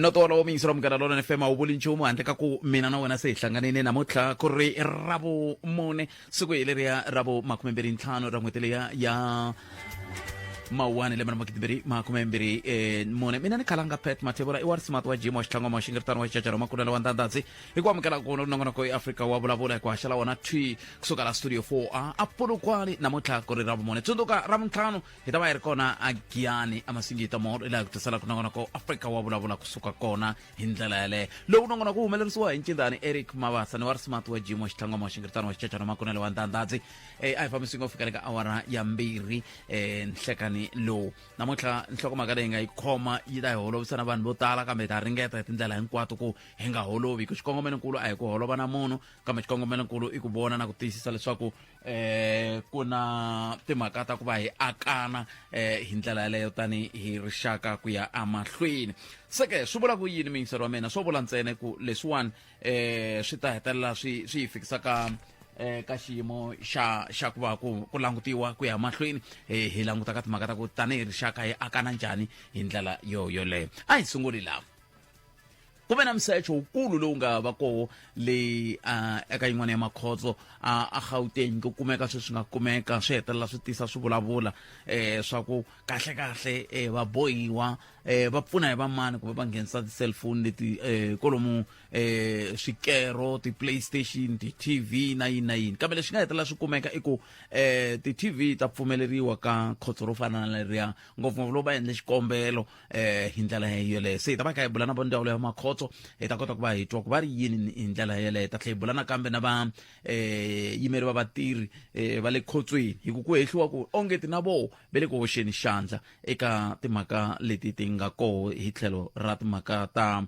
no tolo o mingisela munghana lona fm a wu vuli nchumu handle ka ku mina na wena se hi hlanganile namuntlha ku ri ravu mune siku hi leriya ravu makumembirhi ntlhanu ra n'hweti leya ya mawuwani lembe na magidibiri makumembirhi eh, mune mina ni khalanga pet mathevula i wa rismart wa jim wa xitlhangwama wa xingiritano wa xicacara wa makunela wa ndandadzi hi ku amukela kuno nongonoko ya afrika wa vulavula hi ku haxa la wona twi kusuka la studio 4 a a polokwani namuntlha ku ri ra vumune tsundzuka ra vuntlhanu hi ta va hi ri kona a giyani amasingita moro ilaha ku tisela ku nongonoko afrika wa vulavula kusuka kona hi ndlela yaleyo lowu nongonoko wu humelerisiwa hi ncindani eric mavasa ni wa rismart wa jimo xitlangwama wa xingiritano wa xicacana makunelo wa ndandadzi um a hi fambisini ku fika le ka awara ya mbirhi um nhlekani lowu namuntlha nhlokomhaka leyi nga yi khoma yi ta hi holovisana vanhu vo tala kambe hi ta ringeta hi tindlela hinkwato ku hi nga holovi ku xikongomelonkulu a hi ku holova na munhu kambe xikongomelonkulu i ku vona na ku tiyisisa leswaku eh ku na timhaka ta ku va hi akana eh hi ndlela yaleyo tani hi rixaka ku ya amahlweni se ke swi vula ku yini miyingiselo wa mina swo vula ntsene ku leswiwani eh swi ta hetelela swi swi yi fikisa ka eh ka xiyimo xa xa ku va ku ku langutiwa ku ya mahlweni eh, hi languta ka timhaka ta ku tanihi rixaka hi akana njhani hi ndlela yo yoleyo a hi sunguli laha ku ve na msecho wukulu lowu nga va koho leyi uh, eka yin'wana ya makhotso uh, a gauteng ku kumeka swi swi nga kumeka swi hetelela swi tisa swi vulavula eh, swa ku kahle kahle eh, va bohiwa eh, va pfuna hi vamani kumbe va nghenisa ti-cellphone leti eh, kolomu eh, swikero ti-playstation ti-tv na yini na yini kambe leswi nga hetelela swi kumeka i ku eh, ti-tv ta pfumeleriwa ka khotso ro fana na leriya ngopfungopfu loko va endle xikombelo eh hi ndlela yeleyo se hi ta va kha hi bula na va ndzawulo ya makhotso hi ta kota ku va hi twa ku va ri yini hi ndlela yeleyo hi ta tlhela hi bula nakambe na va um yimeri va vatirhi um va le khotsweni hi ku ku hehliwa ku ongeti na voho va le ku hoxeni xandla eka timhaka leti ti nga koho hi tlhelo ra timhaka ta um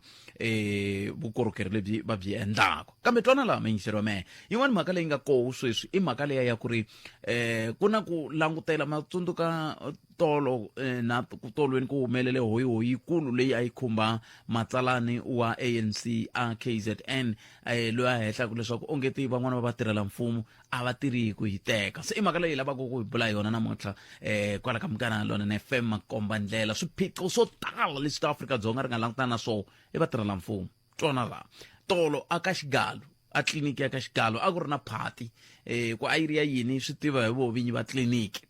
vukorhokeri lebyi va byi endlaka kambe twana laha mayingiseri wa mehe yin'wana mhaka leyi nga koho sweswi i mhaka leya ya ku ri um ku na ku langutela matsundzuka tolo eh, na ku tolweni ku humelele hoyihoyi yikulu leyi a yi khumba matsalani wa anc a kzn eh, loyi a hehlaku leswaku onge ti van'wana va vatirhela mfumo a va tirhi hi ku yi teka se i mhaka leyi lavaka ku hi bula hi yona namuntlha um kwala ka mukana lona na fm makomba ndlela swiphiqo swo tala leswi ta afrika-dzonga ri nga langutana na swona i vatirhela mfumo twana laha tolo a ka xigalo a tliliniki ya ka xigalo a ku ri na phati um ku a yi ri ya yini swi tiva hi vo vinyi va tliliniki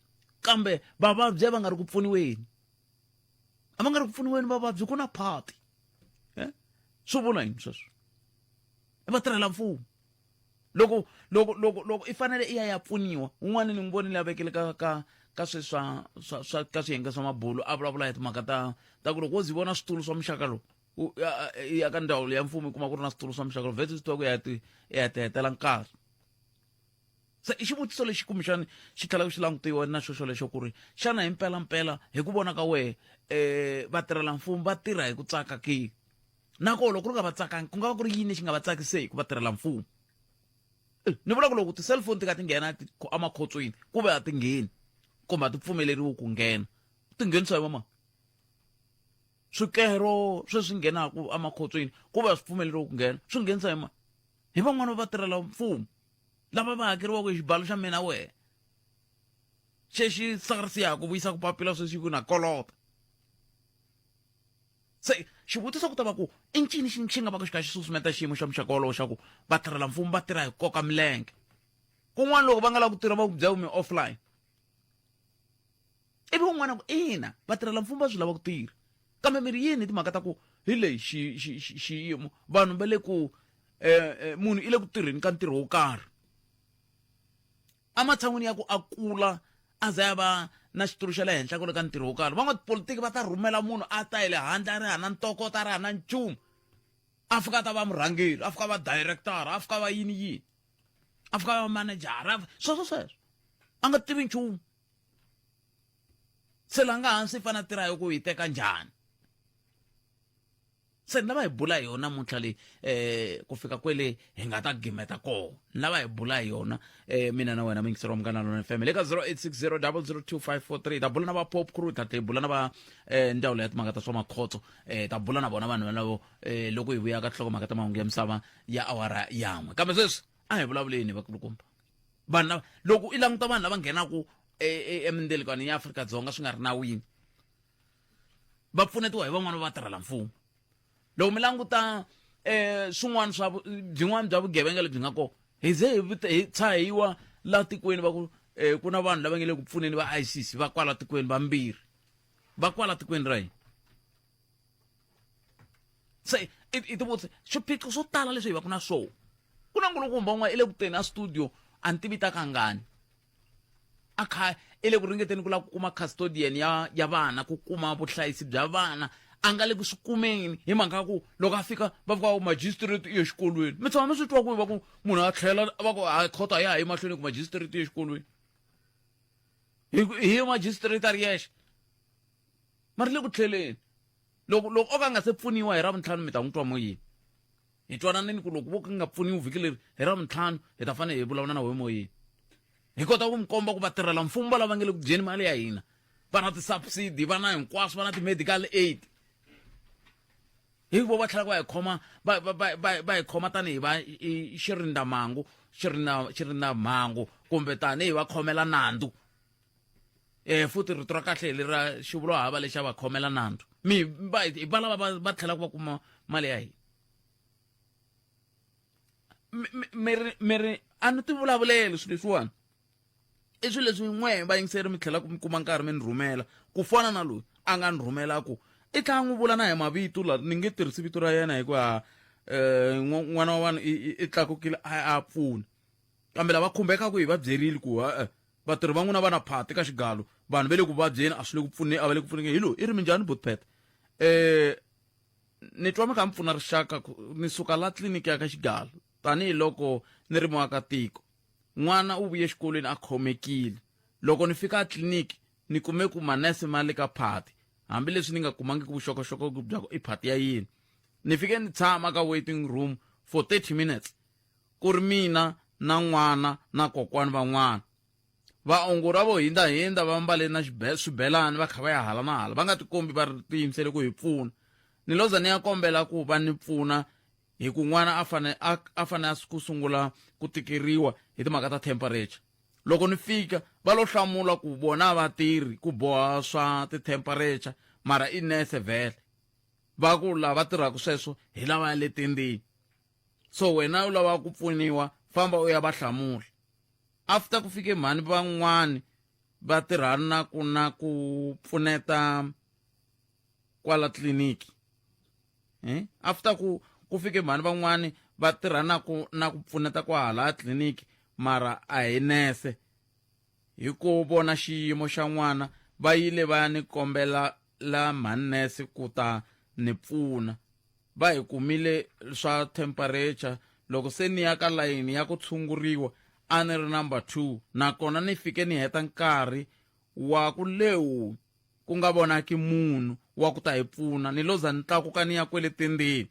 kambe vavabyi a va nga ri ku pfuniweni a va nga ri ku pfuniweni vavabyi ku na phati eh? swi vula yini sweswo i vatirhela mfumo loko loko loko loko i fanele i ya ya pfuniwa un'wana ni n'wi vonile a vekele ka ka ka swe swa swa swa ka swiyenge swa mabulu a vulavula hi timhaka ta ta ku loko wo zi vona switulu swa muxaka lowu ya ka ndzawulo ya mfumo i kuma ku ri na switulu swa muxaka lowu vhete swi tiva ku ya ti ya ti hetela nkarhi se i xivutiso lexi kumbexani xi tlhelaka xi langutiwa na xo xolexo ku ri xana hi mpelampela hi ku vona ka wehe um vatirhela mfumo va tirha hi ku tsaka ke nakoho loko ku ri nga va tsakangi ku nga va ku ri yini lexi nga va tsakiseki ku vatirhela mfumo eh, ni vula ku loko ti-cellphone ti ka ti nghena emakhotsweni ku ve a ti ngheni kumbe a ti pfumeleriwi ku nghena ti nghenisa hi vamani swikero sweswi nghenaka emakhotsweni ku ve a swi pfumeleriwi ku nghena swi nghenisa hi mani hi van'wana va tirhela mfumo lava va hakeriwaka hi xibalo xa mina wehe xexi sars ya ha ku vuyisa ku papila sweswi ku na kolota se xivutiso ku ta va ku i ncini xi xi nga va ku xi kha xi susumeta xiyimo xa muxaka wolowo xa ku vatirhela mfumo va tirha hi koka milenge kun'wana loko va nga lavi ku tirha va ku bya umi offline ivi un'wana ku ina vatirhela mfumo va swi lava ku tirha kambe mi ri yini hi timhaka ta ku hi lexi xiyimo vanhu va le ku um munhu i le ku tirheni ka ntirho wo karhi ematshan'wini ya ku a kula a za ya va na xitulu xa le henhla ku le ka ntirho wo karhi van'watipolitiki va ta rhumela munhu a ta hi le handle a ri hana ntokoto a ri hana nchumu a fika a ta va murhangeri a fika va directora a fika va yini yini a fika va manejara sweswo sweswo a nga tivi nchumu se la nga hansi yi fanele tirha hi ku yi teka njhani se ni lava hi bula hi yona muntlha leyi um ku fika kwele hi nga ta gimeta koho ni lava hi bula hi yona um mina na wena mingiseriwa mukana lona fm le ka 0860 002543 ta bula na va pop crew ta bula na va um ndzawulo ya timhaka ta swa makhotso um ta bula na vona vanhu valavo um loko hi vuya ka tlhoko mhaka ta mahungu ya misava ya awara yan'we kambe sweswi a hi vulavuleni vakulukumba vanhu lava loko i languta vanhu lava nghenaka e, e, emindelekwane ya afrika dzonga swi nga ri nawini va pfunetiwa hi van'wana va tirhela mfumo loko mi languta um swin'wana swa byin'wana bya vugevenga lebyi nga kona hi ze hi tshahiwa la tikweni va ku um ku na vanhu lava nge le ku pfuneni va isis va kwala tikweni vambirhi va kwala tikweni ra hina se i ti vutise swiphiqo swo tala leswi hi va ku na swo ku na nkulukumba un'wana i le ku teni a studio a ni tivi ta kangani a kha i le ku ringeteni ku lava ku kuma custodian ya ya vana ku kuma vuhlayisi bya vana a nga le ku swi kumeni hi mhaka ya ku loko a fika va fika magistrate iyo xikolweni mi tshama mi swi twa ku va ku munhu a tlhela va ku a khoto a ya ha yi mahlweni ku magistrate iyo xikolweni hi hi magistrate a ri yexe ma ri le ku tlheleni loko loko o ka a nga se pfuniwa hi ravuntlhanu mi ta n'wi twa moyeni hi twananeni ku loko vo ka nga pfuniwi vhiki leri hi ravuntlhanu hi ta fanele hi vulavula na wehe moyeni hi kota ku mi komba ku vatirhela mfumo va lava nge le ku dyeni mali ya hina va na ti-subsidy va na hinkwaswo va na ti-medical aid hi vo va tlhela va hi khoma va va va va va hi khoma tanihi va xirindamhangu xirindamhangu kumbe tanihi va khomela nandzu eh futhi rito ra kahle le ra xivulo hava lexa va khomela nandzu mi va hi va lava va va tlhelaka va kuma mali ya hina mi ri mi ri a ni ti vulavuleli swilo leswiwani i swilo leswi n'we vayingiseri mi tlhelaka mi kuma nkarhi mi ni rhumela ku fana na loyi a nga ni rhumela ku i tlhela n'wi vula na hi mavito la ni nge tirhisi vito ra yena hikuva um n'wana wa vanhu i tlakukile a a pfuna kambe lava khumbekaka hi va byerile ku ha-e Vatirhi va n'wina va na phati ka xigalu. Vanhu va le ku vabyeni a swi le ku pfuneni a va le ku pfunekeni. Hi loyi, i ri minjhani buti Peta? Eh, ni twa mi kha mi pfuna rixaka ku ni suka la tliliniki ya ka xigalu tanihiloko ni ri muakatiko n'wana u vuye exikolweni a khomekile loko ni fika etliliniki ni kume ku manese ma le ka phati hambileswi ni nga kumangiki vuxokoxoko bya ku i phati ya yini ni fike ni tshama ka waiting room for 30 minutes ku ri mina na n'wana na kokwani va n'wana. Vaongori a vo hindza-hindza va mbale na swibelani va kha va ya hala na hala, va nga tikombi va tiyimisele ku hi pfuna. Ni lo za ni ya kombela ku va ni pfuna hi ku n'wana a fane a a fane a ku sungula ku tikeriwa hi timhaka ta temperature. Loko ni fika va lo hlamula ku vona a va tirhi ku boha swa ti-temperature mara i nurse vhele. Va ku lava tirhaka sweswo hi lavaya le tendeni. so wena u lava ku pfuniwa famba u ya va hlamula after ku fike mhani van'wani va tirhana ku na ku pfuneta kwala tliliniki eh? after ku ku fike mhani van'wani va tirhana ku na ku pfuneta kwahala tliliniki mara a hi nese hi ku vona xiyimo xa n'wana va yile va ya ni kombela la manese ku ta ni pfuna. Va hi kumile swa temperature. Loko se ni ya ka layini ya ku tshunguriwa, a ni ri number two nakona ni fike ni heta nkarhi wa ku lewu ku nga vonaki munhu wa ku ta hi pfuna. Ni lo za ni tlakuka ni ya kwele tendzeni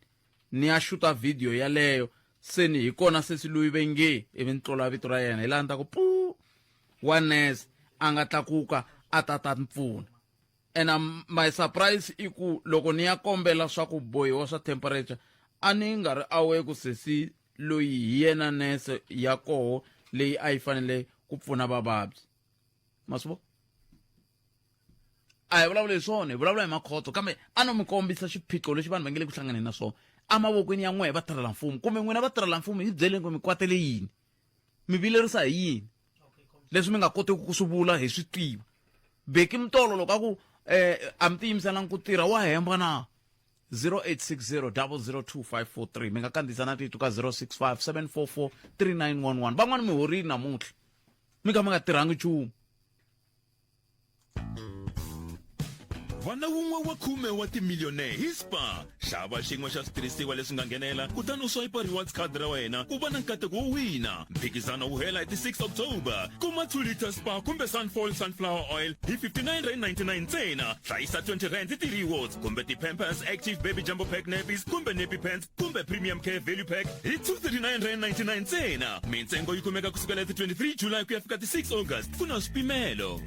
ni ya xuta vhidiyo yaleyo, se ni hi kona sesi loyi ve nge ivi ni tlola vito ra yena. Hi laha ni ta ku puu! Wa nese a nga tlakuka a ta ta ni pfuna. and um, my surprise i ku loko ni ya kombela swa ku bohiwa swa temperature a ni nga ri awe ku sesi loyi hi yena nese ya koho leyi a yi fanele ku pfuna vavabyi ma swi vo a hi vulavula hi swona hi vulavula hi makhotso kambe a no mi kombisa xiphiqo lexi vanhu va nge le ku hlanganeni na swona emavokweni ya n'wehe vatirhela mfumo kumbe n'wina vatirhela mfumo hi byeleni ku mi kwatele yini mi vilerisa hi yini leswi mi nga kotiki ku swi vula hi swi tiva beki mutolo loko a ku um a mi tiyimiselangi ku tirha wa hemba na 0860 002543 mi nga kandziyisa na tito ka 065 744 3911 van'wana mi horile namuntlha mi kha mi nga tirhangi nchumu vana wun'we wa khume wa timiliyonere hi spa xava xin'we xa switirhisiwa leswi nga nghenela kutani u swayipa rewards card ra wena u va na nkateko wo wina mphikizano wu hela hi ti 6 october kuma 2 liter spa kumbe sunfall sunflower oil hi 59 rand 99 ntsena hlayisa 20 rand ti-rewards kumbe ti-pampers active baby jumbo pack nappies kumbe nappy pants kumbe premium care value pack hi 239.99 ntsena mintsengo yi kumeka kusukela ti 23 july ku ya fika ti 6 august ku na swipimelo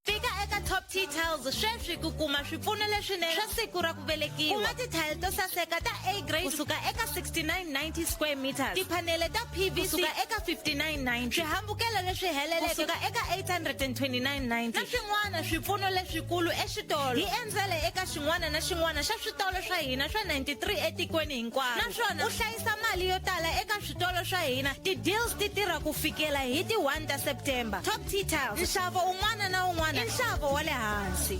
fika eka top t tiles sweswi ku kuma swipfuno leswinene swa siku ra ku velekiwa kuma tithayili to saseka ta a grade kusuka eka 6990 square meters tiphanele ta pvc kusuka eka 5990 swihambukelo leswi heleleke kusuka eka 829 na swin'wana swipfuno leswikulu exitolo hi endzele eka xin'wana na xin'wana xa switolo swa hina swa 93 etikweni hinkwaro naswona u hlayisa mali yo tala eka switolo swa hina ti-deals ti tirha ku fikela hi ti 1 ta september top t tiles nxavo un'wana na un'wana i nxavo wa le hansi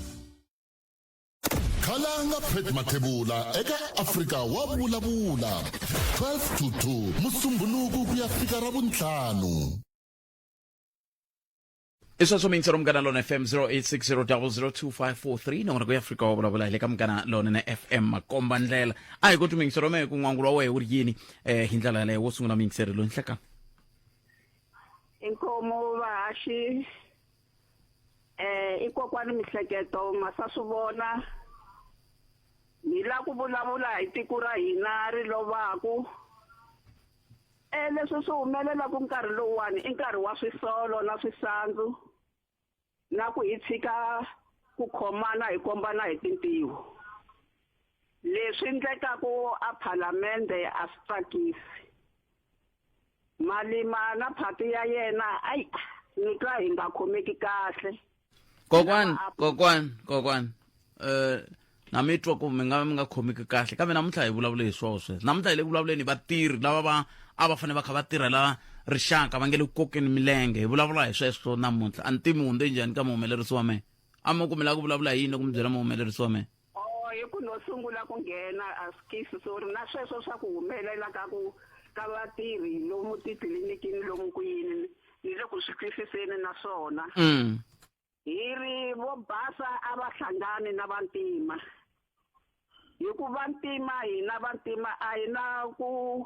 khalanga pet mathebula eka afrika wa vulavula 12 to 2 musumbhunuku ku ya fika ra vuntlhanu isweswo mi ntsero munghana lona fm 0860002543 nongona ku ya afrika wa vulavula hi le ka munghana lona na fm makomba ndlela a hi koti mingisero me ku n'wangulo wa wehe wu ri yini um hi ndlela yaleyo wo sungula mingiseri loyi nhlekani inkomo vahaxi eh i kokwani mihleketo ma sa swi vona hi la ku vulavula hi tiko ra hina ri lovaku E leswi swi humelela ku nkarhi lowuwani i nkarhi wa swisolo na swisandzu na ku hi tshika ku khomana hi kombana hi tintiho leswi endlekaka a phalamende a swi tsakisi malima na phati ya yena ayi ni twa hi nga khomeki kahle kokwan Lama apu- kokwan kokwan eh na mi twa ku mi nga mi nga khomeki kahle kambe namuntlha hi vulavule hi swoho sweswo namuntlha hi le ku vulavuleni hi vatirhi lava va a va fanele va kha va tirhela rixaka va nge le ku kokeni milenge hi vulavula hi sweswo namuntlha a ni tivi mi hundze njhani ka muhumelerisi wa mehe a mi ku mi lava ku vulavula hi yini loko mi byela muhumelerisi wa mehe Oh, hi ku no sungula ku nghena a skisi sorry na sweswo swa ku humelela ka ku ka vatirhi lomu titliliniki lomu ku yini ni le ku swi twisiseni na swona mm. hi ri vo basa a va hlangani na vantima hikuva ntima hina vantima a hi na ku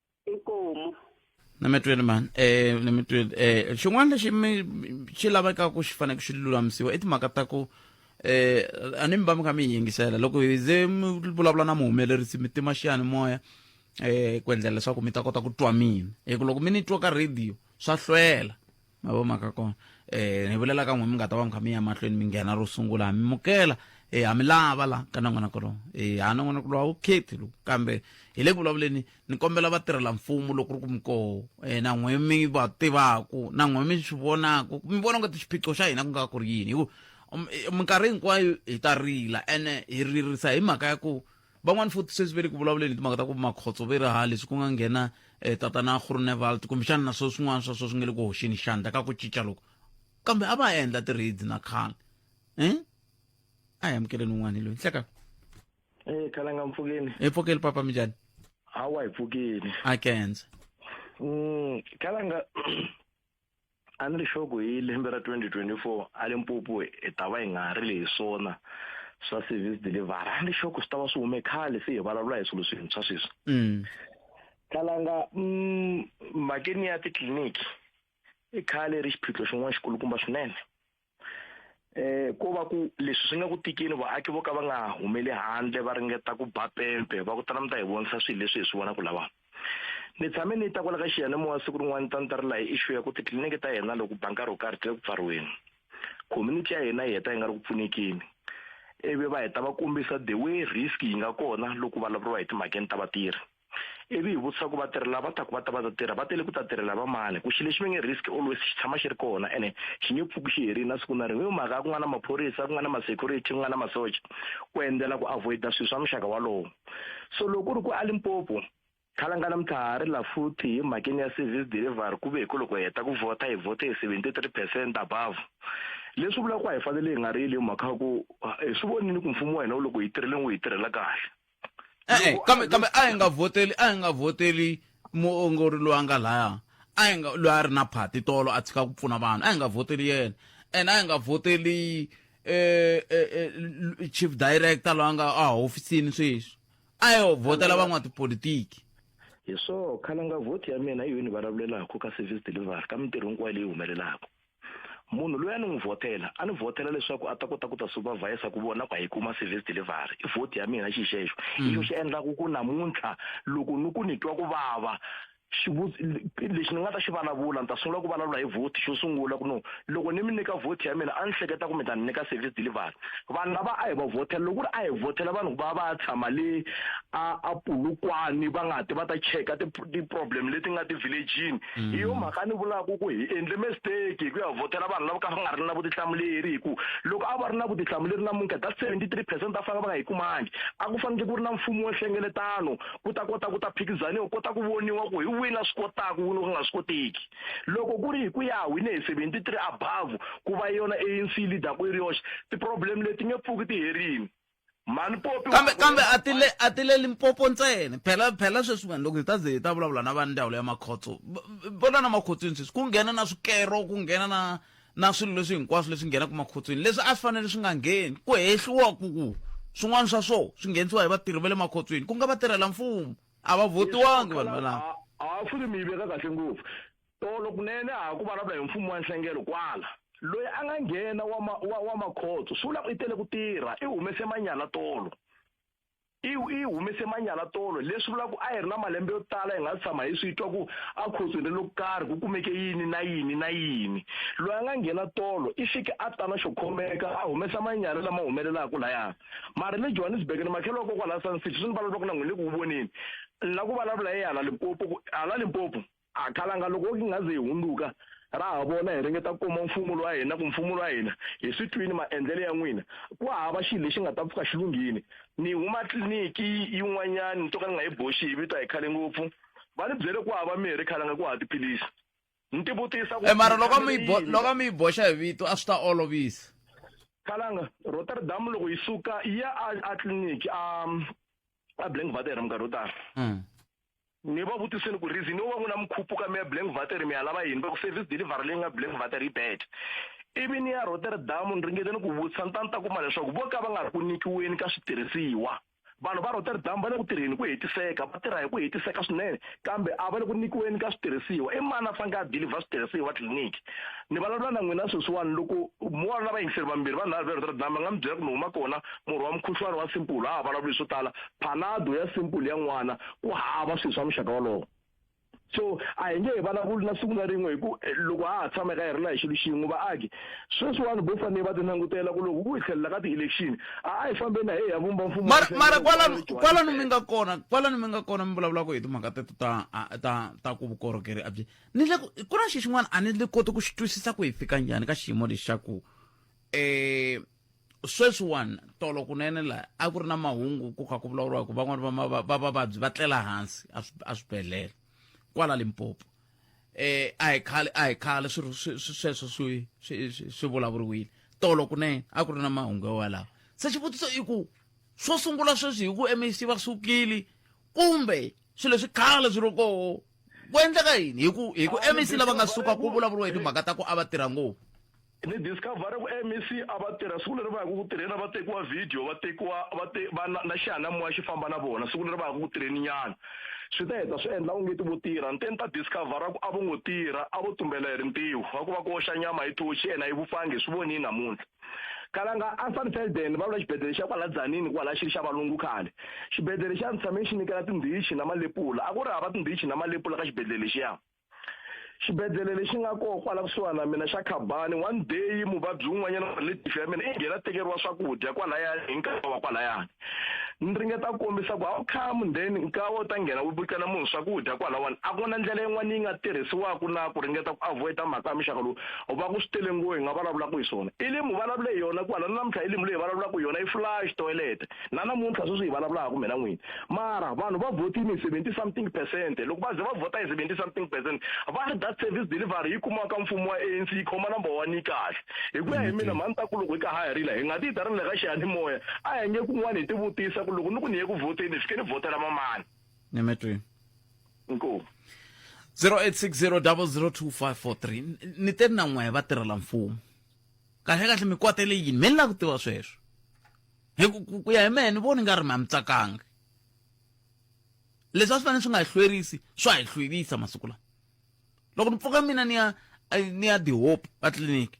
inkomu na mi twile mani eh na mi twile eh xin'wana lexi mi xi laveka ku xi fanele xi lulamisiwa i timhaka ta ku eh a ni mi va mi kha mi yi yingisela loko hi ze mi vulavula na muhumelerisi mi tima xiyanimoya eh ku endlela leswaku mi ta kota ku twa mina hi ku loko mi ni twa ka radio swa hlwela ma vo mhaka kona um ni vulela ka n'we mi nga ta va mi kha mi ya mahlweni mi nghena ro sungula ha mi mukela um ha mi lava la ka nongonoko lowu um ha nongonoko lowu a wu khethi lowu kambe hi le ku vulavuleni ni kombela va tirhela mfumo loko ri ku mikoho um na n'we mi va tivaku na n'we mi swi vonaku mi vona nga ti xiphiqo xa hina ku nga ku ri yini hi ku um, minkarhi hinkwayo hi ta rila ene hi ririsa hi mhaka ya ku Van'wana futhi sweswi ve le ku vulavuleni hi timhaka ta ku makhotso ve raha leswi ku nga nghena eh, tatana Groenewald kumbexana na swo swin'wana swa swo swi nge le ku hoxeni xandla ka ku cinca loko kambe a va endla ti-raids na khale um a hi amukeleni un'wana hi loyi nhleka Eh khalanga mpfukeni. hi pfokeli papa minjhani Hawa hi pfukeni. a kenze Mm khalanga a ni ri xoku hi lembe ra 2024 a limpopo hi ta va hi nga ha ri lehi swona swa service delivery a ni ri xoku swi ta va swi hume khale se hi vulavula hi swilo swintshwa sweswi mm. khalanga mm, makeni ya titliliniki i khale ri xiphiqo xin'wana xikulukumba swinene eh ko va ku leswi swi nga ku tikini vaaki vo ka va nga humeli handle va ringeta ku ba pempe va ku tala mi ta hi vonisa swilo leswi hi swi vonaka lava ni tshame ni ta kwala ka xiyanimoya siku rin'wana ni ta ni ta ri laha hi issue ya ku titliliniki ta hina loko ba nkarhi wo karhi ti le ku pfariweni community ya hina yi heta yi nga ri ku pfunekini ivi va heta va kombisa the way risk yi nga kona loko vulavuriwa hi timhakeni ta vatirhi ivi hi vutisa ku vatirhi lava taku va ta va ta tirha va tele ku ta tirhela va mani ku xilo xi ve nge risk always xi tshama xi ri kona ene xi nge pfuki xi herile na siku na rin'we i mhaka ya ku nga na maphorisa ku nga na ma-security ku nga na masocha ku endlela ku avoida swilo swa muxaka walowo so loko ku ri ku a limpopo khalangana mithari la futhi hi mhakeni ya service delivery ku ve hi ku loko hi heta ku vhota hi vhote hi seventy three percent above leswi vulaka ku a hi fanele hi nga rili hi mhaka ya ku hi swi vonile ku mfumo wa hina wu loko hi tirheleni wu hi tirhela kahle e-e kambe kambe a hi nga vhoteli a hi nga vhoteli muongori loyi a nga laya a hi nga loyi a ri na phati tolo a tshika ku pfuna vanhu a hi nga vhoteli yena and a hi nga vhoteli eh, eh, eh, chief director loyi a nga a hofisini sweswi a hi vhotela van'watipolitiki hi swo khale nga vhoti ya mina hi yini ni vulavulelaka ka service delivery ka mintirho hinkwayo leyi humelelaka munhu loyi a ni n'wi vhotela a ni vhotela leswaku a ta kota ku ta supervisa ku vona ku a yi kuma service delivery i vhoti ya mina xi xexo i mm. xo xi endlaku ku namuntlha loko ni ku ni twa ku vava lexi ni nga ta xi vulavula ni ta sungula ku vulavula hi vhoti xo sungula ku no loko ni mi nyika vhoti ya mina a ni hleketa ku mi ta ni nyika service delivery vanhu lava a hi va vhotela loko ku ri a hi vhotela vanhu va va ya tshama le a a pulukwani va nga ti va ta cheka ti-problem leti nga ti-villagini mm. hi yo mhaka ni vulaka ku hi endle mistake hi ku ya vhotela vanhu lava ka va nga ri na vutihlamuleri hi ku loko a va ri na vutihlamuleri namuntlha that seventy three percent va fanele va nga yi kumangi a ku fanekele ku ri na mfumo wa nhlengeletano ku ta kota ku ta phikizaniwa kota ku voniwa ku hi wini a swi kotaka wini ku nga swi koteki loko ku ri hi ku ya wine hi seventy three above ku va yona anc leader ku yi ri yoxe ti-problem leti nge pfuki ti herini mhani popi kambe kambe a ti le a ti le limpopo ntsena phela phela sweswi vanhu loko hi ta ze hi ta vulavula na va ndhawu leya makhotso vona na makhotsweni sweswi ku nghena na swikero ku nghena na na swilo leswi hinkwaswo leswi nghenaka makhotsweni leswi a swi fanele swi nga ngheni ku hehliwa ku ku swin'wana swa swo swi nghenisiwa hi vatirhi va le makhotsweni ku nga vatirhela mfumo a va votiwangi vanhu valava a swi ri mi yi veka kahle ngopfu tolo kunene a ha ku vulavula hi mfumo wa nhlengelo kwala loyi a nga nghena wa ma, wa, wa makhotso swi vula ku i tele ku tirha i humese manyala tolo i i humese manyala tolo leswi vula ku a hi ri na malembe yo tala hi nga tshama hi swi twa ku a khotsweni lo karhi ku kumeke yini na yini na yini loyi a nga nghena tolo i fike a tana xo khomeka a humesa manyala lama humelelaka layana mara le johannesburg ni makhelo wa kokwala sun city swi ni vulavula ku na n'wini le ku ku voneni ni la ku vulavula hi hala limpopo hala limpopo a khalanga loko ki nga ze hi hundzuka ra ha vona hi ringeta ku kuma mfumo wa hina ku mfumo wa hina hi swi twini maendlelo ya n'wina ku hava xilo lexi nga ta pfuka xi lunghini ni huma tliliniki yin'wanyani ni to ka ni nga yi boxi hi vito a hi khale ngopfu va ni byele ku hava mirhi khalanga ku hava tiphilisi ni ti vutisa ku eh, mara loko mi loko mi yi boxa hi vito a swi ta olovisa khalanga rotterdam loko yi suka ya a tliliniki a a blank vater minkarhi yo tala hmm. ni va vutiseni ku reason yo va n'wi na mikhuphu ka mi ya blank vater mi ya lava yini va ku service delivery leyi nga blank vater yi bad ivi ni ya rotterdam ni ringeteni ku vutisa ni ta ni ta kuma leswaku vo ka va nga ri ku nyikiweni ka switirhisiwa vanhu va rotterdam va le ku tirheni hi ku hetiseka va tirha hi ku hetiseka swinene kambe a va le ku nyikiweni ka switirhisiwa i mani a faneke a dilivha switirhisiwa tliliniki ni vulavula na n'wina sweswiwani loko mo wa lava yingiseri vambirhi vanhu lava va rotterdam va nga mi byela ku ni huma kona murhi wa mukhuhlwani wa simple a ha vulavuli swo tala phalado ya simple ya n'wana ku hava swilo swa muxaka wolowo so a hi nge hi vulavuli na siku na rin'we hi ku eh, loko a ha tshama eka hi ri la hi xilo xin'we vaaki sweswiwani bo fanele va ti langutela ku loko ku hi tlhelela ka ti-election a a hi fambeni na hi ya vumba mfumo mara kwalano mi nga kona kwalano mi nga kona mi vulavulaka hi timhaka teto ta ta ta ku vukorhokeri abyi ni le ku na xi xin'wana a ni le koti ku xi twisisa ku hi fika njhani ka xiyimo lexaku um eh, sweswiwani tolo kunene la a ku ri na mahungu ku kha ku vulavuriwa ku van'wana va vavabyi va tlela hansi a swibedhlele kwala limpopo eh a hi khale a hi khale swilo sweswo swi swi vulavuriwile tolo kunene a ku ri na mahungu yowalawo se xivutiso i ku swo sungula sweswi hi ku mec va sukile kumbe swilo leswi khale swi ri koho ku endleka yini hi ku hi ku mec lava nga suka ku vulavuriwa hi timhaka ta ku a va tirha ngopfu ni discover ku mec a va tirha siku leri va yaka ku tirheni a va tekiwa video va tekiwa va te va na, na xiyanimoya xi famba na vona siku leri va yaka ku tirheni nyana swi ta heta swi endla ungeti vo tirha ni te ni ta discovera ku a vo ngo tirha a vo tumbela hi rintiho va ku va koxa nyama hi thoxi yena yi vupfangi hi swi vonini namuntlha kalanga ansanfelden va vula xibedhlele xa kwala dzanini kwala xi ri xa valungu khale xibedhlele xa ni tshame xi nyikela tindhichi na malepula a ku ri hava tindhichi na malepula ka xibedhlele lexiya xibedhlele lexi nga koho kwala kusuhani na mina xa khabani one day muvabyi wun'wanyana wa relative ya mina i nghena tekeriwa swakudya kwalayani hi nkarhi wa kwalayani ni ringeta ku kombisa ku how come then nkawa u ta nghena wu bukela munhu swakudya kwalawani a ku na ndlela yin'wana yi nga tirhisiwaka na ku ringeta ku avoida mhaka ya muxaka lowu u va ku swi tele ngo hi nga vulavulaka hi swona ilimu vulavule hi yona kwala na namuntlha ilimu leyi vulavulaka hi yona i flash toilet na namuntlha sweswi hi vulavulaka kumbe na n'wini mara vanhu va vhotini hi seventy something percent loko va ze va vhota hi seventy something percent va ri that service delivery yi kumaka mfumo wa anc yi khoma number one yi kahle hi ku ya hi mina mhani ta ku loko hi ka ha rila hi nga ti yi ta ri le ka xiyanimoya a hi nge kun'wana hi tivutisa ku loko ni ku ni ye ku vhoteni hi fike ni vhotela mamani ni mi twi inkomu 0860002543 ni te na n'we va tirhela mfumo kahle kahle mi kwatele yini mi ni lava ku tiva sweswo hi ku ku ya hi mehe ni voni nga ri ma mi tsakangi leswi a swi fanele swi nga hi hlwerisi swa hi hlwerisa masiku lawa loko ni pfuka mina ni ya ni ya the hope ka tliliniki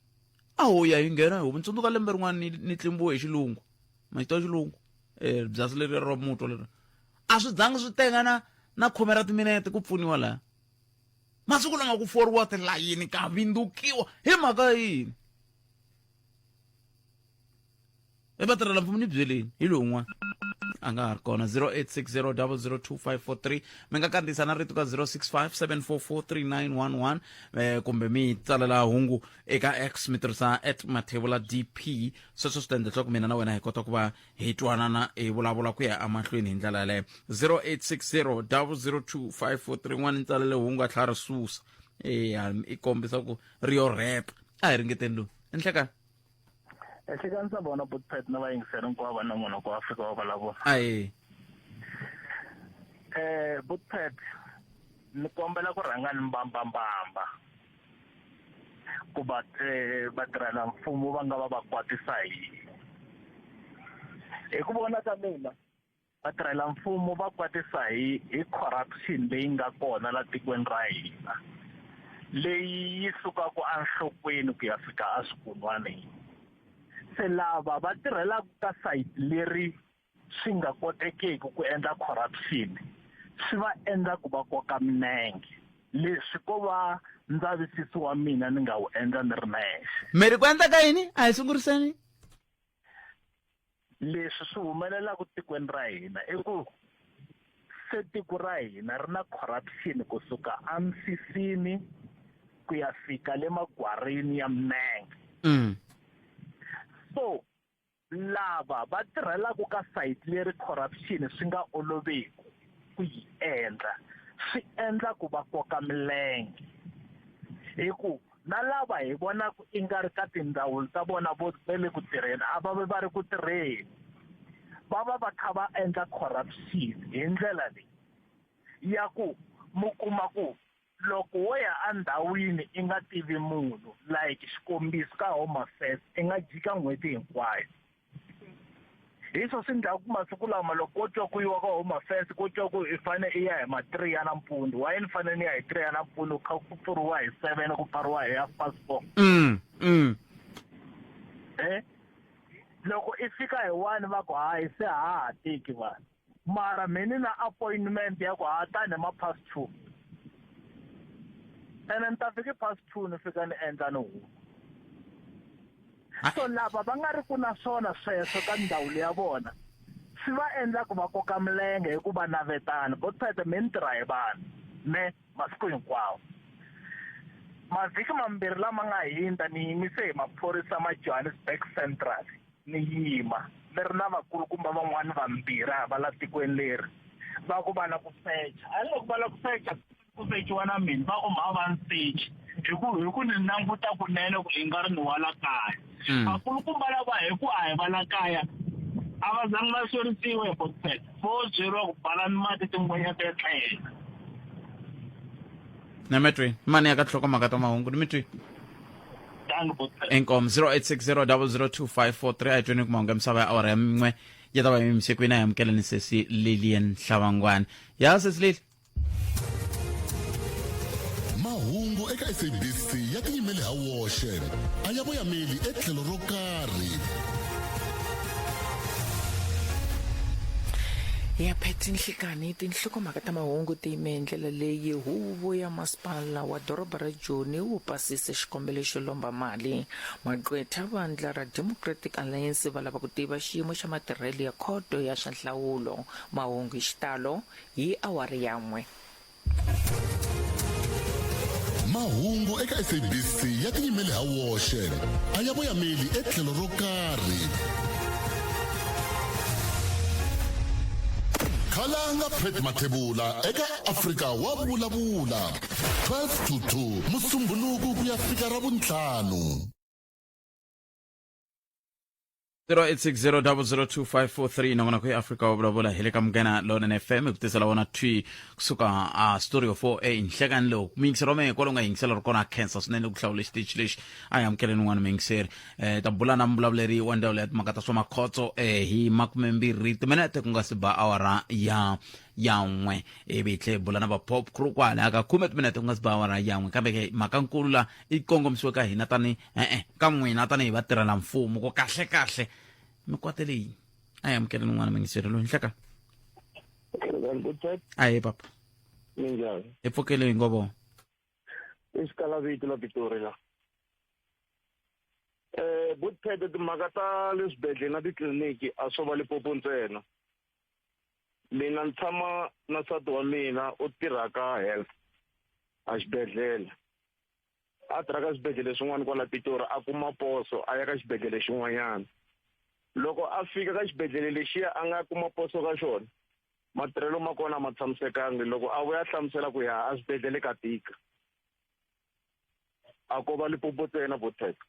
a ho ya hi nghena hi hope ni tsundzuka lembe rin'wana ni ni tlimbiwe hi xilungu maxito ya xilungu um byasi leri ra mutwa leri a swi zangi swi tenga na na khume ra timinete ku pfuniwa laha masiku lama ku foriwa tilayini ka vindzukiwa hi mhaka yini e vatirhela mfumo ni byeleni hi lowun'wana a nga ha ri kona 0860002543 mi nga kandziyisa na rito ka 0657443911 eh, kumbe mi tsalela hungu eka x mi tirhisa at mathevula dp sweswo swi ta endla leswaku mina na wena hi kota ku va hi twanana hi vulavula ku ya emahlweni hi ndlela yaleyo 0860002543 n'wana ni tsalele hungu a tlhela ri susa eya i kombisa ku ri yo rhepa a hi ringeteni lowu enhlekani ehlekanisa vona botpet na vayingiseri hinkwavo va nongonoko ku afrika wa vulavula ae eh botpet ni kombela ku rhanga ni mbambambamba ku va eh, vatirhela mfumo va nga va va kwatisa hi hi ku vona ka mina vatirhela mfumo va kwatisa hi hi corruption leyi nga kona la tikweni ra hina leyi yi sukaka enhlokweni ku ya fika eswikun'waneni se lava va tirhelaka ka sayiti leri swi nga kotekiki ku endla corruption swi va endla ku va koka minenge leswi ko va ndzavisiso wa mina ni nga wu endla ni ri nexe miri ku endla ka yini a hi sunguriseni leswi swi humelelaka tikweni ra hina i ku se tiko ra hina ri na corruption kusuka emisisini ku ya fika le magwarini ya minenge mm. so lava va tirhelaka ka sayiti leri corruption swi nga oloveki ku yi endla swi endla ku va koka milenge hikuva na lava hi vonaka i nga ri ka tindzawulo ta vona vo ve le ku tirheni a va ve va ri ku tirheni va va va kha va endla corruption hi ndlela leyi ya ku mi kuma ku loko wo ya endhawini i nga tivi munhu like xikombiso ka home affairs i nga jika n'hweti hinkwayo hi swo swi ndlaku masiku lama loko ko twa ku yiwa ka home affairs ko twa ku i fane i ya hi ma-three ya nampundzu waye ni fane ni ya hi three ya nampundzu kha ku pfuriwa hi seven ku pfariwa hi half past four mm, mm. e loko i fika hi one va ku hayi se ha ha teki vanhu mara me ni na appointment ya ku ha ta ni ma past two ene ni ta fika past two ni fika ni endla ni huma so lava va nga ri ku na swona sweswo ka ndhawu leya vona swi va endla ku va koka milenge hi ku va navetana bo tsete me ni tirha hi vanhu me masiku hinkwawo mavhiki mambirhi lama nga hundza ni yimise hi maphorisa ma johannesburg central ni yima ni ri na vakulukumba van'wana vambirhi hava la tikweni leri va ku va la ku secha a loko va la ku secha ku sechiwa na mina va ku mhava ni sechi hi ku hi ku ni languta kunene ku i nga ri ni wa la kaya hmm. vakulukumba lava hi ku a hi va la kaya a va zangi va xerisiwe hi botset vo byeriwa ku bala ni mati tin'wenya to tlhela na mi twi mani ya ka tlhoko mhaka ta mahungu ni mi twi inkom 0860002543 ayitweni kuma unge misava ya awara ya min'we ya ta va yimisiku yina yamukeleni sesi lilian hlawangwani ya sesi lili mahungu eka sabc ya tiyimele ha woxe a ya voyameli etlhelo ro karhi ya pheti nhlikani tinhlokomhaka ta mahungu tiyime hi ndlela leyi huvo ya masipala wa doroba ra Joni wu pasise xikombelo xo lomba mali. Magqwetha vandla ra Democratic Alliance va lava ku tiva xiyimo xa matirhelo ya Khoto ya swa Nhlawulo. Mahungu hi xitalo hi awara ya n'we. Mahungu eka SABC ya tinyimele ha woxe, a ya voyameli etlhelo ro karhi. Khalanga Pat Mathebula eka Afrika wa Vulavula. 12 to 2 musumbhuluku ku ya fika ra vuntlhanu 0860002543 na vona ku ya afrika wa vulavula hi le ka mugena lonene fm ku tisela vona twi kusuka a story of 4 a nhlekan lowu muyingiseri wa mehe kwalo nga yingisela ri kona a khensa swinene ku hlawula xitichi lexi a hi amukeleni un'wana muyingiseri um ta bula na muvulavuleri wa ndzawulo ya timhaka ta swa makhotso um hi makumembirhi timinete ku nga si ba awara ya yan'we ivi hi tlhe hi bula na va pop crew kwalaya ka khume timinete ku nga si ba awara yan'we kambe ke mhaka nkulu la i kongomisiwe ka hina tani e-e ka n'wina tanihi vatirhela mfumo ku kahle kahle mi kwate leyi a hi amukeleni n'wana mingiseri loyi nhleka a hi papa minjhani hi pfukele hi ngovo i xikalavito la pitori la eh butphede timhaka ta le swibedhlele na titliliniki a swo va lipopo ntsena mina ni tshama na nsati wa mina u tirha ka health a xibedhlele a tirha ka swibedhlele swin'wana kwala pitori a kuma poso a ya ka xibedhlele xin'wanyana loko a fika ka xibedhlele lexiya a nga kuma poso ka xona matirhelo ma kona a ma tshamisekangi loko a vuya a hlamusela ku ya a swibedhlele ka tika a ko va lipopo tsena vo teka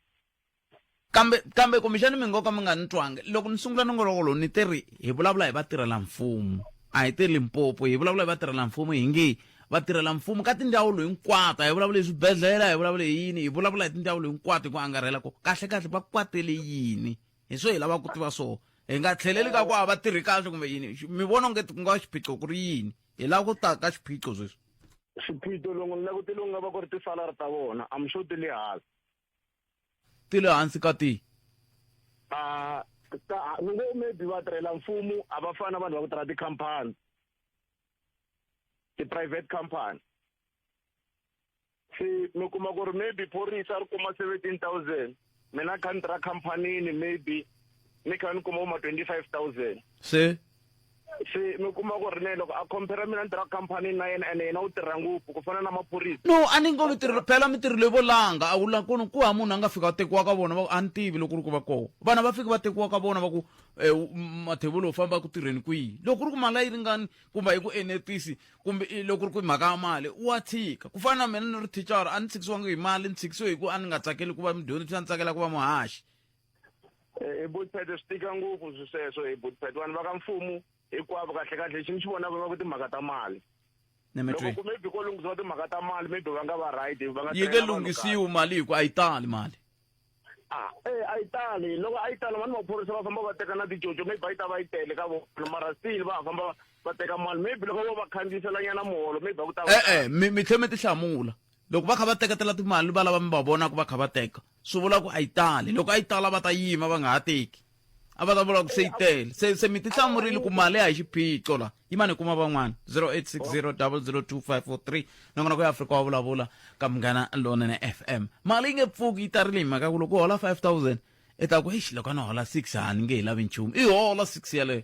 kambe kambe kumbexani mi ngo ka mi nga ni twanga loko ni sungula nongoloko lowu ni te ri hi vulavula hi vatirhela mfumo a hi te limpopo hi vulavula hi vatirhela mfumo hi nge vatirhela mfumo ka tindzawulo hinkwato hi vulavula hi swibedhlele hi vulavula hi yini hi vulavula hi tindzawulo hinkwato hi ku angarhela ko kahle kahle va kwatele yini hi swo hi lavaka ku tiva swona hi nga tlheleli ka ku a va tirhi kahle kumbe yini mi vona onge ku nga xiphiqo ku ri yini hi lava ku ta ka xiphiqo sweswi xiphiqo longo ni langutele ku nga va ku ri tisalari ta vona am sure ti le hansi ti le hansi ka tihi a ni ngo maybe va tirhela mfumo a va fani na vanhu va ku tirha tikhampani ti-private company se mi kuma ku ri maybe phorisa ri kuma seventeen thousand mina kha ni tirha khampanini maybe ni kha ni kuma uma twenty five thousand se se mi kuma ku ri ne loko a compare mina ni tirha khampani na yena ene yena u tirha ngopfu ku fana na maphorisa no a ni ngo mi tirhelo phela mi tirhelo vo langa a wu la kunu ku ha munhu a nga fika va tekiwa ka vona va a ni tivi loko ri ku va koho vana va fiki va tekiwa ka vona va ku eh, mathevolo u famba ku tirheni kwihi loko ri ku mali a yi ringani kumbe a yi ku enetisi kumbe i loko ku ri ku hi mhaka ya mali wa tshika ku fana na mina ni ri thicara a ni tshikisiwangi hi mali ni tshikisiwe hi ku a ni nga tsakeli ku va mudyondzi a ni tsakela ku va muhaxi eh, hi botipet swi tika ngopfu swi sweswo hi botipet vanhu va ka mfumu hinkwavo kahle kahle xi ni xi vonaka va ku timhaka ta mali loko ku maybe ko lunghisiwa timhaka ta mali maybe va nga va right va nga yi nge lunghisiwi mali hi ku a yi tali mali Ah, eh a yi tali loko a yi tali vanhu maphorisa va famba va teka na ticoco maybe a yi ta va yi tele ka vona mara still va famba va- va teka mali maybe loko vo va khandziyisela nyana muholo maybe a ku ta va e-e mi mi tlhe mi ti hlamula loko va kha va teketela timali valava mi va vonaka va kha va teka swi vula ku a yi tali loko a yi tala va ta yima va nga ha teki a va ta vula ku se yi tele se se mi ti hlamurile ku mali a hi xiphiqo la yimani hi kuma van'wana 0860002543 nakona ku ya afrika wa vulavula ka munghana lonene fm mali yi nge pfuki yi tarile hi mhaka ku loko u hola 5000 i ta ku exi loko a ni hola 6 a ni nge hi lavi nchumu i hola 6 yaleyo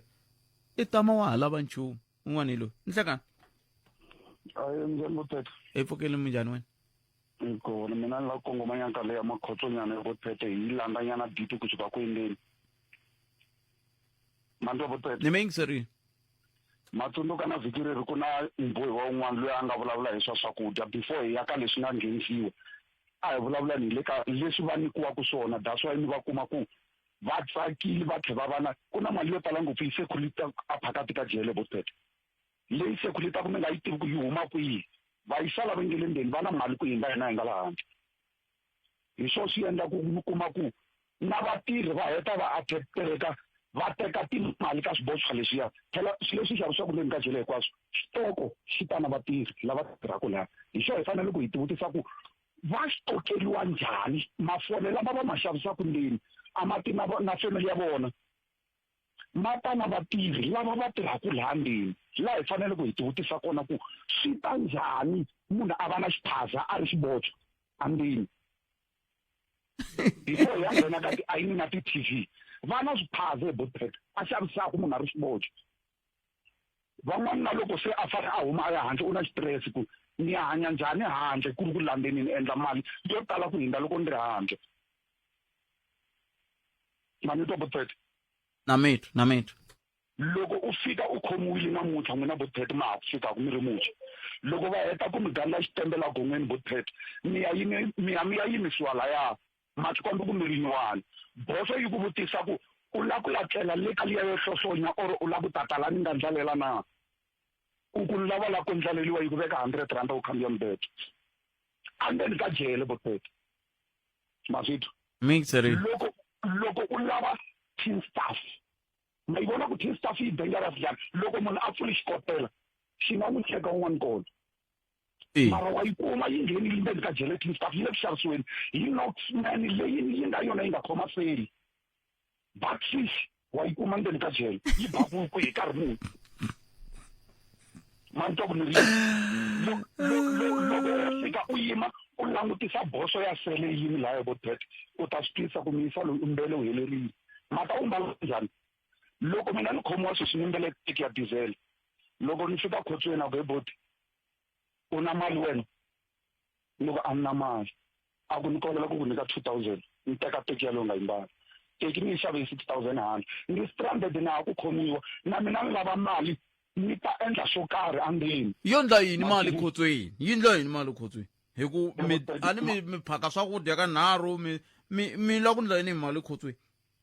i tama wa ha lava nchumu un'wana hi loyi ni hlekana hi pfukeli munjhani wena Iko ni mina ni la kongoma nyaka leya makhotsonyana ya botsete hi landa nyana biti ku suka ku endeni mandwa botsete ni meng sorry matsundzuka na vhiki leri ku na mbohi wa un'wana loyi a nga vulavula hi swa swakudya before hi ya ka leswi nga nghenisiwa a hi vulavula ni le ka leswi va nyikiwaka swona that's why ni va kuma ku va tsakile va tlhe va va na ku na mali yo tala ngopfu yi se khulita a phakati ka jele botsete leyi sekulu yi ta ku mi nga yi tivi ku yi huma kwihi va yi sala va nge le ndzeni va na mali ku hindza hina hi nga la handle hi swo swi endla ku mi kuma ku na vatirhi va heta va attractereka va teka timali ka swiboxwa leswiya phela swi leswi xavisaka ndzeni ka jele hinkwaswo xitoko xi ta na vatirhi lava tirhaka laha hi xo hi fanele ku hi tivutisa ku va xitokeriwa njhani mafole lama va ma xavisaka ndzeni a ma ti na na family ya vona ma ta na vatirhi lava va tirhaka laha ndzeni laha hi fanele ku hi tivutisa kona ku swi ta njhani munhu a va na xiphaza a ri xibotswa andzeni hi koho ya nghena ka tiayini na ti-t v va na swiphaza hi botpet a xavisaka munhu a ri xibotswa van'wana na loko se a fane a huma a ya handle u na xitirese ku ni ya hanya njhani handle ku ri ku lambeni ni endla mali yo tala ku hindza loko ni ri handle mani twa botsete na mitwa na mitwa loko u fika u khomiwile namuntlha n'wina botsete ma ha ku fikaka mi ri muxa loko va heta ku mi gandla xitembela gon'weni botsete mi ya yimi mi ya mi ya yimisiwa laya Matskombe kumbe rinyuwani. Boso yi ku vutisa ku u la ku ya tlela le ka liya yo hlohlonya or u la ku ta ta la ni nga ndlalela na? Ku ku lava la ku ndlaleliwa yi ku veka hundred rhanda u khandziya mubedo. A ndzeni ka jele boteto. Ma swi twa? Mixery. Loko loko u lava tin staff ma yi vona ku tin staff yi dangerous njhani loko munhu a pfuli xikotela xi nga n'wi cheka un'wana kona. mara wa yi kuma yi nghenile ndzeni ka gelatin staff yi le ku xavisiweni hi noxman leyi yi nga yona yi nga khoma seli batrish wa yi kuma ndzeni ka jele yi babuku hi nkarhi muni manto ku ni ri loko ya fika u yima u langutisa boso ya sele yini laya vo tet u ta swi twisa ku miyisa loyi u mbele u helerile mata u mbala njhani loko mina ni khomiwa sweswi ni mbele tiki ya diesel loko ni fika khotsweni a ku he boti u na mali wena loko a ni na mali a ku ni kombela ku ku nyika two thousand ni teka teki yalowu nga yimbala teki ni yi xave hi six thousand hand ni ri stranded na ha ku khomiwa na mina ni lava mali ni ta endla swo karhi andleni yo ndla yini mali khotsweni yi ndla yini mali khotsweni hi ku mi a ni mi mi phaka swakudya ka nharhu mi mi mi la ku ndla yini hi mali khotsweni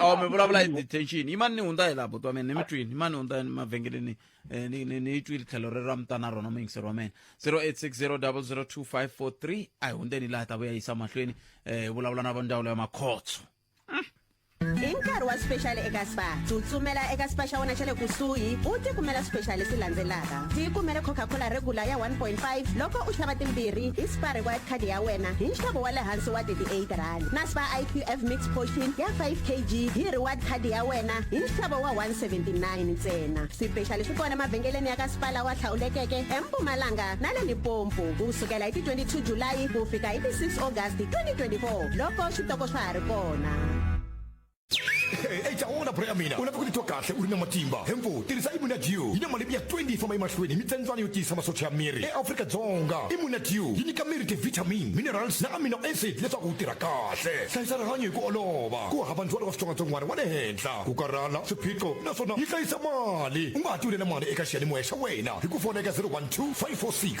awa mi vulavula hi detention yimani ni hundza hi laha buti wa mina ni mi twini yimani ni hundza mavhengeleni eh, ni ni- ni yi twile tlhelo rero a mi ta na rona muyingiseri wa mina 0860002543 a hi hundzeni laha ta vuya yisa mahlweni eh, hi vulavula na va ndzawulo ya makhotso hi nkarhi wa special eka spa tsutsumela eka spa xa wena xa le kusuhi u tikumela special leswi landzelaka tikumele coca-cola regular ya 1.5 loko u xava timbirhi hi spa required card ya wena hi nxavo wa le hansi wa 38 rand naspa iqf mix portion ya 5 kg hi reward card ya wena hi nxavo wa 179 ntsena swipexali swi kona emavhengeleni ya ka sipala wa hlawulekeke empumalanga na le limpopo ku sukela hi ti 22 julayi ku fika hi ti 6 august 2024 loko switoko swa ha ri kona eca wona bro ya mina u lava ku titwa kahle u ri na matimba hemfo tirhisa imunadio yi na malembe ya 20 yi famba emahlweni hi mitsandzayo yo tiyisa masocha ya miri eafrika dzonga imunadio yi nyika miri tivitamin minerals na amino acid leswaku wu tirha kahle hlayisa rihanyo hi ku olova ku hava ndzwalo wa switsongwatsongwana wa le henhla ku karhala swiphiqo naswona yi hlayisa mali u nga ha tiwulela mali eka xiyanimoya xa wena hi ku fona eka 012 546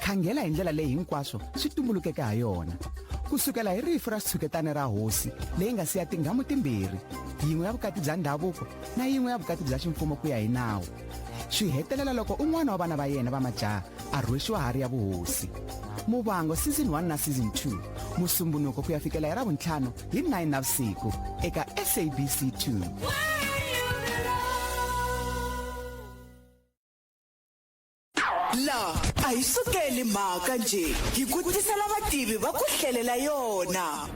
khangela hi ndlela leyi hinkwaswo swi tumbulukeke ha yona ku sukela hi rifu ra xitshuketana ra hosi leyi nga siya tinghamu timbirhi yin'we ya vukati bya ndhavuko na yin'we ya vukati bya ximfumo ku ya hi nawu swi hetelela loko un'wana wa vana va yena va majaha a rhwexiwa hari ya vuhosi muvango season 1 na season 2 musumbunuko ku ya fikela hi ra vuntlhanu hi 9 na vusiku eka sabc 2 laha a hi sukeli mhaka nje hi ku tisela vativi va ku hlelela yona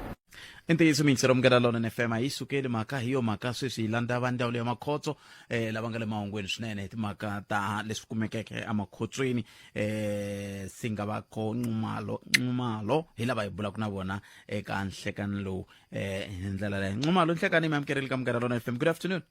i ntiyiso miyingiselo munghana lonene fm a yi sukeli mhaka hi yo mhaka sweswi hi landza va ndzawulo ya makhotso eh lava nga le mahungweni swinene hi timhaka ta leswi kumekeke emakhotsweni eh si nga va ko nxumalo nxumalo hi lava hi bulaka na vona eka nhlekani lowu eh hi ndlela leyo nxumalo nhlekani mi amukerile ka munghana lonene fm good afternoon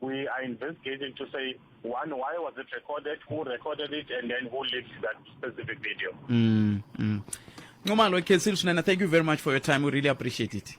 we are investigating to say one why was it recorded who recorded it and then who leaked that specific video mm, mm. Nxumalo Ekhensil Sunana thank you very much for your time we really appreciate it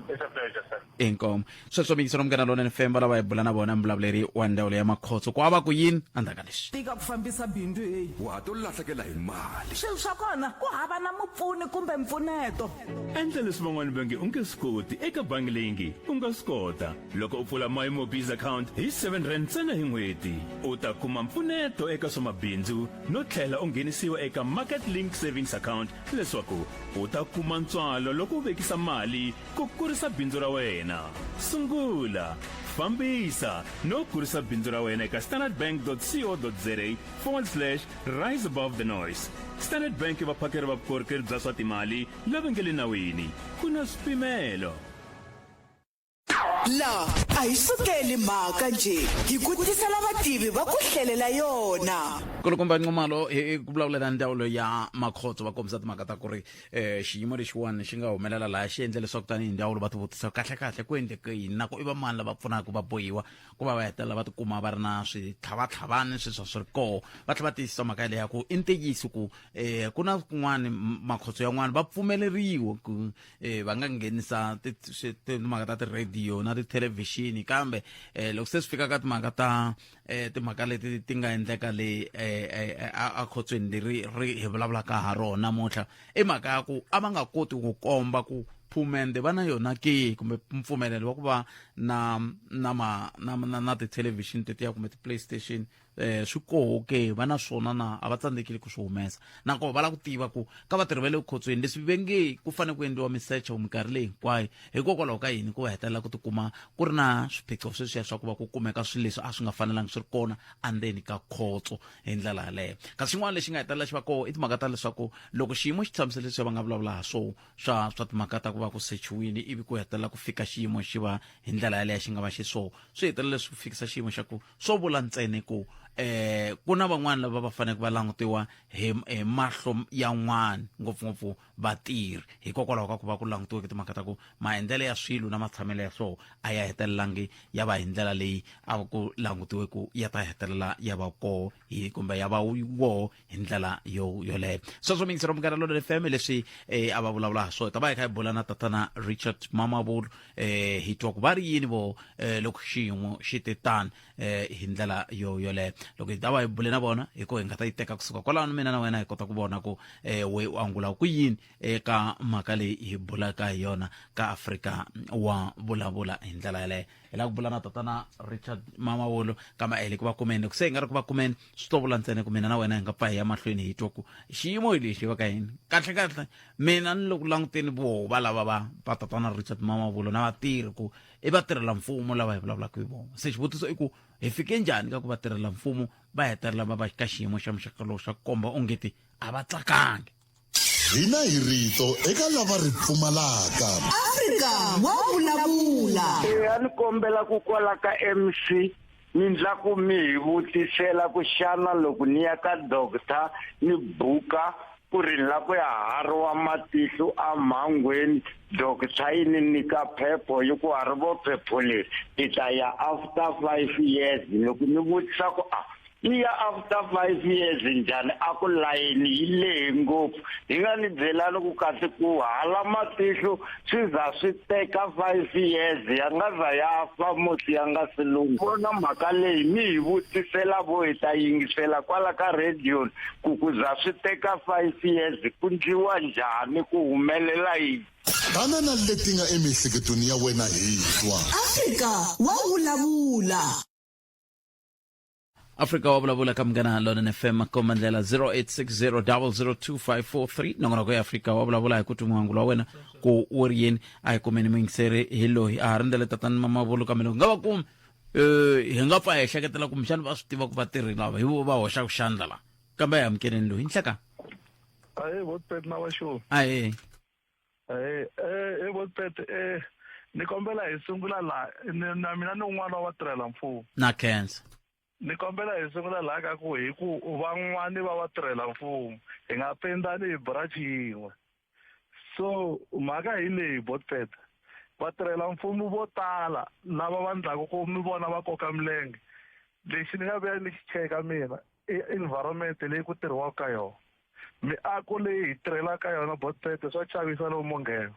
it's a pleasure sir inkomo sweswo miyingiselo mukana lona ni femba lava hi bula na vona mbulavuleri wa ndawulo ya makhotso ku ava ku yini andzaka leswi tika ku fambisa bindzu heyi wa ha to lahlekela hi mali swilo swa kona ku hava na mupfuni kumbe mpfuneto endla leswi van'wana va nge u nge swi koti eka bangi leyi nge u nga swi kota loko u pfula my mobiz account hi 7 rand ntsena hi n'hweti u ta kuma mpfuneto eka swa mabindzu no tlhela u nghenisiwa eka market link savings account leswaku u ta kuma ntswalo loko u vekisa mali ku kurisa bindzu ra wena sungula fambisa no kurisa bindzu ra wena eka standardbank.co.za forward slash rise above the noise standard bank i vaphakeri va vukorhokeri bya swa timali lava nge le nawini ku na swipimelo laha a hi sukeli mhaka nje hi ku tisela vativi va ku hlelela yona kulukumba nxumalo hi ku vulavula na ndzawulo ya makhotso va kombisa timhaka ta ku ri um xiyimo lexiwani xi nga humelela laha xi endle leswaku tanihi ndzawulo va ti vutisa kahle kahle ku endleke yini na ku i va mani lava pfunaka va bohiwa ku va va hetelela va tikuma va ri na switlhavatlhavani sweswa swi ri koho va tlhela va tiyisisa mhaka yeleya ku i ntiyiso ku um ku na kun'wani makhotso yan'wani va pfumeleriwa ku eh va nga nghenisa timhaka ta ti-radio na tithelevhixini kambe eh loko se swi fika ka timhaka ta eh timhaka leti ti nga endleka le eh, eh a khotsweni leri ri hi vulavulaka ha rona namuntlha i mhaka ya ku a va nga koti ku komba ku phumende va na yona ke kumbe mpfumelelo wa ku va na na ma na na, na tithelevhixini tetiya kumbe ti-playstation eh swi koho ke va na swona na a va tsandzekile ku swi humesa nakoho va lava ku tiva ku ka vatirhi va le vukhotsweni leswi ve nge ku fanele ku endliwa misecho minkarhi leyi hinkwayo hikokwalaho ka yini ku va hetelela ku tikuma ku ri na swiphiqo sweswiya swa ku va ku kumeka swilo leswi a swi nga fanelanga swi ri kona andzeni ka khotso hi ndlela yaleyo kasi xin'wana lexi nga hetelela xi va koho i timhaka ta leswaku loko xiyimo xi tshamisele leswi va nga vulavula ha swo swa swa timhaka ta ku va ku sechiwini ivi ku hetelela ku fika xiyimo xi va hi ndlela yaleyo xi nga va xiswona swi hetelela leswi fikisa xiyimo xa ku swo vula ntsena ku eh ku na van'wana lava va faneleke va langutiwa hi hi mahlo yan'wana ngopfungopfu vatirhi hikokwalaho ka ku va ku langutiweke timhaka ta ku maendlelo ya swilo na matshamelo ya swoho a ya hetelelangi ya va hi ndlela leyi a ku langutiwe ku ya ta hetelela ya va koho hi kumbe ya va woho hi ndlela yo yoleyo sweswo mingisero munghana lonene fm leswi eh, a va vulavula ha swona ta va hi kha hi bula na tatana richard mamavulu eh, hi twa ku va ri yini vo eh, loko xiyimo xi te tani eh, hi ndlela yo yoleyo loko hi ta va hi bule na vona hi ko hi nga ta yi teka kusuka kwalano mina na wena hi kota ku vona ku eh, we u angula ku yini eka mhaka leyi hi bulaka hi yona ka afrika wa vulavula hi ndlela yaleyo hi lava ku vula na tatana richard mama wolo kama ele ku va kumeni ku se hi nga ri ku va kumeni swi to vula ntsena ku mina na wena hi nga pfa hi ya mahlweni hi twa ku xiyimo hi lexi va ka yini kahle kahle mina ni loko languteni voho va lava va va tatana richard mama wolo na vatirhi ku i vatirhela mfumo lava hi vulavulaka hi vona se xivutiso i ku hi fike njhani ka ku vatirhela mfumo va hetelela va va ka xiyimo xa muxaka lowu xa ku komba ongeti a va tsakangi hina hi rito eka lava ri pfumalaka afrika wa vulavula eya ni kombela ku kwala ka mc ni ndla ku mi hi vutisela ku xana loko ni ya ka doctor ni buka ku ri ni la ku ya hariwa matihlu amhangweni doctor yi ni nyika phepho yi ku harivo phepho leri ni ta ya after five years loko ni vutisa ku a ah, yi ya after five years njhani a ku layeni yi lehe ngopfu hi nga ni byelani ku kasi ku hala matihlo swi za swi teka five years ya nga za ya fa musi ya nga si lungha vona mhaka leyi mi hi vutisela vo hi ta yingisela kwala ka radio ku ku za swi teka five years ku ndliwa njhani ku humelela yini tana na leti nga emiehleketweni ya wena hi twa afrika wa vulavula afrika wa vulavula ka munghana london fm komba ndlela 0860002543 nongonoko ya afrika wa vulavula hi ku twi muhangulo wa wena ku wu ri yini a hi kumeni muyingiseri hi loyi a ha rindzele tatani mamavulu kambe loko nga va kumi um hi nga pfa hi ehleketela kumbexana va swi tiva ku vatirhi lava hi vo va hoxaka xandla la kambe a hi amukeleni loyi nhleka ahee votipeti na vaxoni ahee eh eh e botpet eh ni kombela hi sungula la na mina ni un'wana wa tirhela mfumo na khensa ni kombela hi sungula laha ka ku hi ku van'wani va va tirhela mfumo hi nga pendani hi branch yin'we so mhaka hi leyi botpet vatirhela mfumo vo tala lava va ndlaku ku mi vona va koka milenge lexi ni nga vuya ni xi cheka mina i environment leyi ku tirhiwaka ka yona Miako leyi hi tirhelaka yona Botsete swa chavisa lomu monghena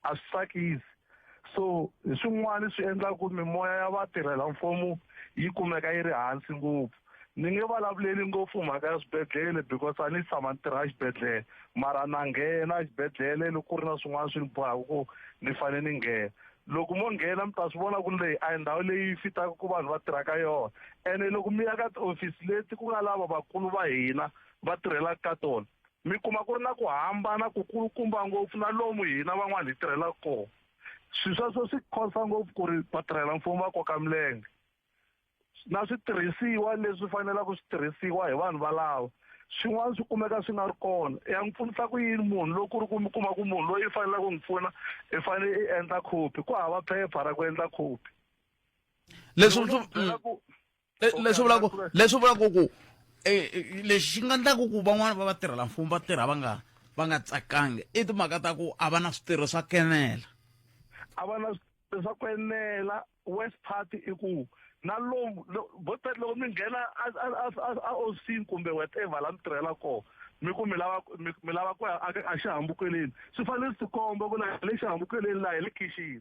a swi tsakisi so hi swin'wana swi endlaka ku mimoya ya vatirhela mfumo yi kumeka yi ri hansi ngopfu ni nge vulavuleli ngopfu mhaka ya swibedhlele because a ni tshama ni tirha exibedhlele mara na nghena exibedhlele loko ku ri na swin'wana swi ni bohaka ku ni fanele ni nghena loko mo nghena mi ta swi vona ku ri leyi a hi ndhawu leyi fitaka ku vanhu va tirhaka yona ene loko mi ya ka tiofisi leti ku nga lava vakulu va hina va tirhelaka ka tona mi kuma ku ri na ku hambana ku kulukumba ngopfu na lomu hina van'wana hi tirhelaka kona swilo sweswo swi khonsa ngopfu ku ri vatirhela mfumo va koka milenge na switirhisiwa leswi fanelaka swi tirhisiwa hi vanhu valava swin'wana swi kumeka swi nga ri kona ya n'wi pfunisa ku yini munhu loko ku ri ku mi kuma ku munhu loyi i faneleke ku n'wi pfuna i fanele i endla khopi ku hava phepha ra ku endla khopi leswi Le- leswi vulaka leswi vulaka ku eh, eh, lexi xi nga ndlaku ku van'wana va vatirhela mfumo va tirha va nga va nga tsakangi i timhaka ta ku a va na switirho swa kenela a va na swi- swa ku enela west part i ku na lomu lo- vo tala loko mi nghena a- a- a- a- a ofisini kumbe whatever la mi tirhela kona mi ku mi lava mi mi lava ku ya a- a xihambukeleni swi fanele swi tikomba ku la hi le xihambukeleni laha hi le khixini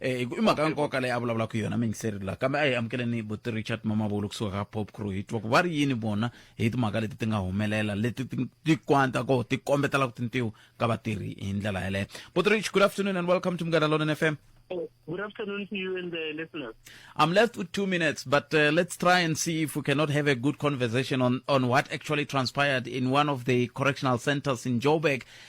eh, i mhaka ya nkoka leyi a vulavulaka yona mingiseri la kambe a hi amukeleni buti richard mamavulu kusuka ka pop crew hi twa ku va ri yini vona hi timhaka leti ti nga humelela leti ti- ti kwanta ko ti kombetela ku tintiwa ka vatirhi hi ndlela yeleyo buti rich good afternoon and welcome to mugada lonen f m Good afternoon to you and the listeners. I'm left with two minutes, but uh, let's try and see if we cannot have a good conversation on, on what actually transpired in one of the correctional centers in Joburg.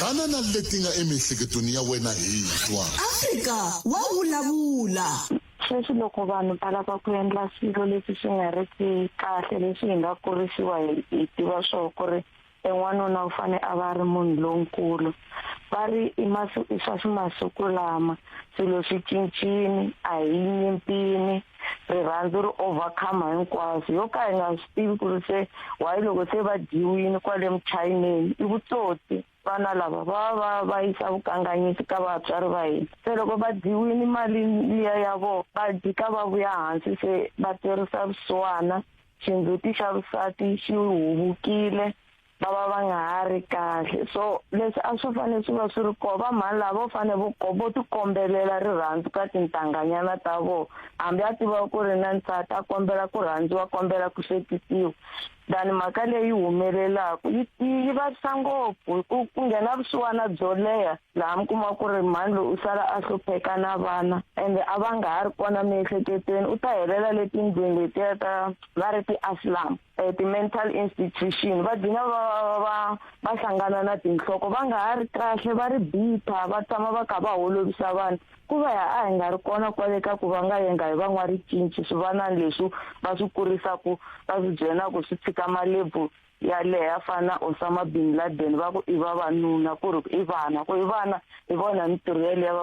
banana leti nga emiehleketweni ya wena hi twa afrika wa vulavula sweswi loko vanhu va lava ku endla swilo leswi swi nga ri ki kahle leswi hi nga kurisiwa hi tiva swoo ku ri en'wanuna u fane a va ri munhu lonkulu va ri i masiku swa swi masiku lama swilo swi cincini a hi nyimpini rirhandzu ri overcome hinkwaswo yo ka hi nga swi tivi ku ri se wayi loko se va dyiwini kwale muchayineni i vutsotsi vana lava va va va yisa vukanganyisi ka vatswari va hina se loko va dyiwini mali liya ya vona va dyika va vuya hansi se va twerisa vusiwana xindzhuti xa vusati xi huvukile va va va nga ha ri kahle so leswi a swi fanele swi va swi ri kona va mhani lava vo fanele vo vo tikombelela rirhandzu ka tintanganyana ta vona hambi a tiva ku ri na nsati a kombela ku rhandziwa kombela ku hlekisiwa than mhaka leyi humelelaka yi yi vavisa ngopfu hi ku ku nghena vusiwana byo leha laha mi kuma ku ri mhani loyi u sala a hlupheka na vana ende a va nga ha ri kona miehleketweni u ta helela letindlwini letiya ta va ri ti-aslam eh, ti-mental institution va dina va va va hlangana na tinhloko va nga ha ri kahle va ri bitter va tshama va kha va holovisa vanhu ku va ya a hi nga ri kona kwale ka ku va nga yenga hi van'waricinci swivanani leswi va swi kurisaku va swi byelaku swi tshika malebu yaleyo a fana na osama bin laden va ku i vavanuna ku ri i vana ku i vana hi vona mintirho yeleyo